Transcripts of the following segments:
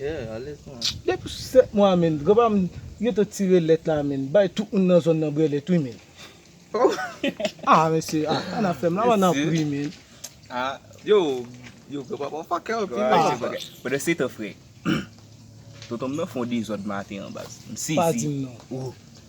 Yeah ale kon an. Depi sou 7 mwa menn gran pam yo te tire lèt la menn bay tout moun nan zòn nan brè lèt wi menn. Oh. Ah mesye ah sa nap fèm la man nan pri menn. Ah yo yo gran papa fakè anpil non se bagay. Pandan setan frè tontonm nan fon dezòd maten an baz. M sezi. Pa dim non. Ooh.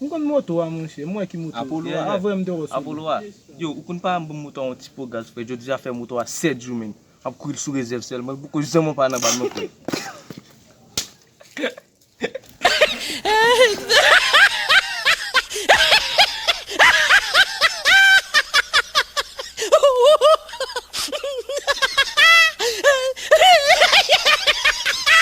M konn moto a monchè, m wè ki moto, Apolo a, avwe m te wè sou li. Apolo a, yo ou konn pa banm moto a yon ti po gaz frè, jodi a fè moto a 7 jou menm, map kouri l sou rezèv sèlman, m poko janm anba nan bal mwen frè.